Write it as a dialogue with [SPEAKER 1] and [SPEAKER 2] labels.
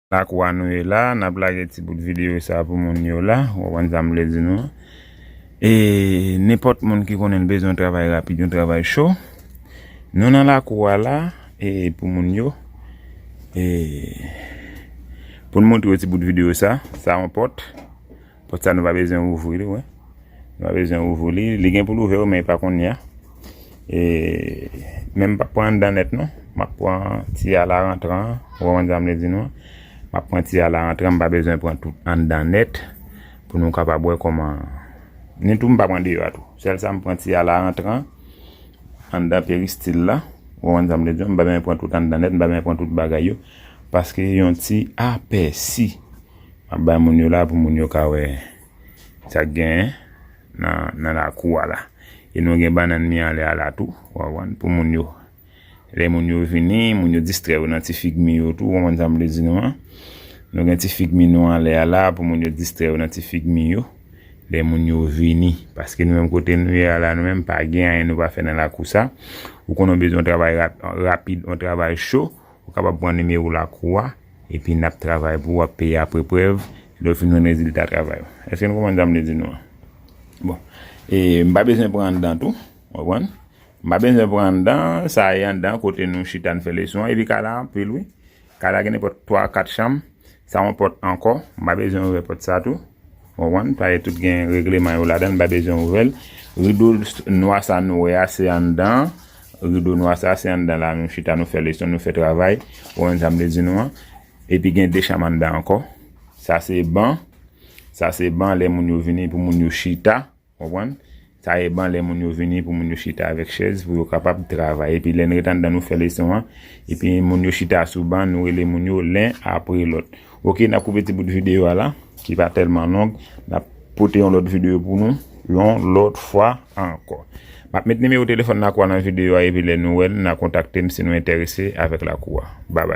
[SPEAKER 1] Lakou a nou ye la, nap lage ti bout video sa pou moun yo la, ou konprann sa m vle di nou an. E nenpòt moun ki konnen l bezwen yon travay rapid, yon travay cho, nou nan lakou a la e pou moun yo e pou n montre yo ti bout video sa, sa yon pòt. Pòt sa nou pa bezwen ouvri li wen. Nou pa bezwen ouvri li. Li gen pou l ouvè wi men e pa konnya. E men m pap pran anndan nèt non. M ap pran ti a la rantran an. Ou konprann sa m vle di nou an. M ap pran ti a la rantran. M pa bezwen pran tout anndan nèt. Pou nou kapab wè kòman. Ni tou m pa pran deyò a tou. Sèl sa m pran ti a la rantran. Anndan peristil la. Ou konprann sa m vle di w. M pa bezwen pran tout anndan nèt. M pa bezwen pran tout bagay yo. Paske yon ti apèsi. Map bay moun yo la pou moun yo ka wè sak gen nan lakou a la. E nou gen banann mi anlè a la tou wap wè pou moun yo. Lè moun yo vini, moun yo distrè yo nan ti fig mi yo tou wap wè sam vle di nou an. Nou gen ti fig mi nou anlè a la pou moun yo distrè yo nan ti fig mi yo. Lè moun yo vini, paske nou menm kote nou ye a la nou menm pa gen anyen nou pa fè nan lakou sa. Ou konnen bezwen travay rapid, yon travay cho, Ou kapab pran nimewo lakou w a epi n ap travay pou w ap peye apre prèv lè w fin jwenn rezilta travay ou. Èske nou konprann sa m vle di nou an? Bon. E m pa bezwen pran anndan tou. Ou konprann? M pa bezwen pran anndan, sa e anndan kote nou chita n fè leson an. Epi kay la anpil wi. Kay la gen nenpòt twa kat chanm. Sa yon pòt ankò, m pa bezwen ouvè pòt sa tou. Ou konprann? Paske tout gen regleman yo ladan, m pa bezwen ouvè l. Rido nwa sa nou wè a, se anndan. Rido nwa sa a, se anndan la nou chita, nou fè leson, nou fè travay. Ou konprann sa m vle di nou an? Epi gen de chanm anndan ankò. Sa se ban. Sa se ban lè moun yo vini pou moun yo chita. Konprann? Sa e ban lè moun yo vini pou moun yo chita avèk chèz pou yo kapab travay. Epi lè n ret anndan nou fè leson an. Epi moun yo chita sou ban nou rele moun yo len apre lòt. Ok n ap koupe ti bout videyo a la ki pa tèlman long. N ap pote yon lòt videyo pou nou yon lòt fwa ankò. M ap met nimewo telefòn lakou a nan videyo a epi lè nou wè l nan kontakte m si nou enterese avèk lakou a. Bby.